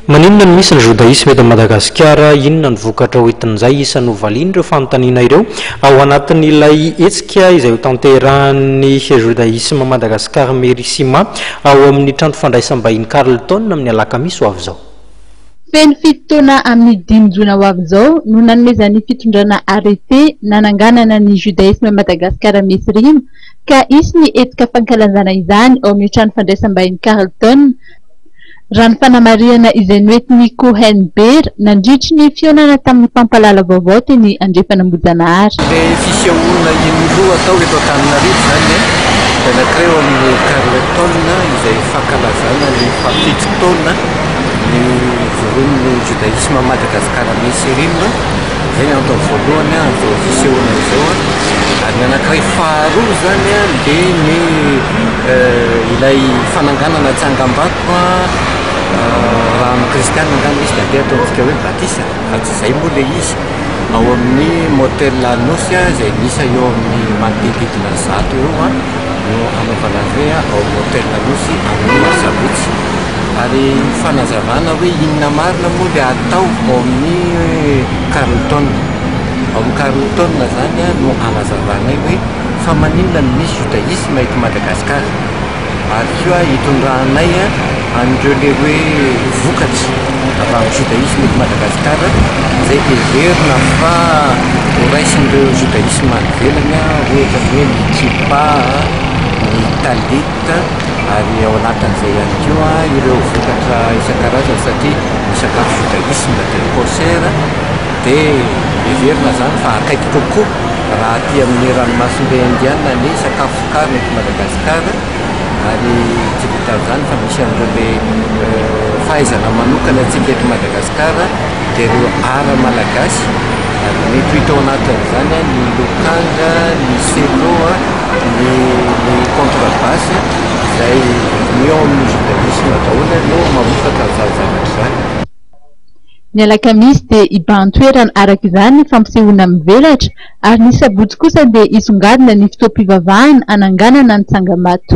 Maninona no misy ny Jodaisme eto Madagasikara? Inona no vokatra hoentin'izay? Isan'ny hovalian'ireo fanontaniana ireo ao anatin'ilay hetsika izay hotanterahan'ny Jodaisme Madagascar Merissima ao amin'ny trano fandraisam-bahiny Carlton amin'ny alakamisy ho avy izao. Feno fito taona amin'ny dimy jona ho avy izao no nanomezan'ny fitondrana arrêté nananganana ny Judaisme Madagascar Mesrima ka hisy ny hetsika fankalanzana izany ao amin'ny trano fandraisam-bahiny Carlton Raha ny fanamarihana izay noentin'i Cohen Beer nandritry ny fihaonana tamin'ny mpampahalala vaovao teny Andrefan'Ambohijanahary. Ilay fisehoana iny loha atao eto Antananarivo izany dia nankireo amin'ny Carlton izay fankalazana ny fahafito taona nivorian'ny Jodaisma Madagascar Messe Rim. Izay ny antony voalohany ahazoana izao fisehoana izao an. Ary ny anankiray faharoa izany an, dia ny ilay fananganana tsangambato raha amin'ny kristiana angamba izy dia andeha ataontsika hoe batisa fa tsy izay moa ilay izy. Ao amin'ny motel Anosy an, izay miisa eo amin'ny manodididna ny zato eo an, no hanaovana azy hoe ao motel Anosy amin'ny sabotsy. Ary fanazavana hoe inona marina moa ilay atao ao amin'ny Carlton. Ao amin'ny Carlton izany no anazavanay hoe fa maninona no misy Judaisme eto Madagasikara. Ary koa itondranay an'ireo ilay hoe vokatra avy amin'ny Judaisme eto Madagasikara izay heverina fa horaisin'ireo Judaisme any ivelany ohatra ny hoe ny kippa, ny talit. Afrika ary ao anatin'izay ihany koa ireo vokatra isan-karazany satria ny sakafo Judaisme dia kosher dia heverina izany fa akaiky kokoa raha aty amin'ny ranomasimbe Indiana ny sakafo vokarina eto Madagasikara ary tsy vitan'izany fa misy an'ireo be fahaizana manokana antsika eto Madagasikara dia ireo art malagasy ary mety ho hita ao anatin'izany ny lokanga, ny selo. ny ny contre base izay ny ao amin'ny judaisme daholo aloha no mamokatra an'izany zavatra izany. Ny alakamisy dia hibahan-toerana araka izany ny fampisehoana mivelatra ary ny sabotsy kosa dia hisongadina ny fotoam-pivavahana hananganana ny tsangam-bato.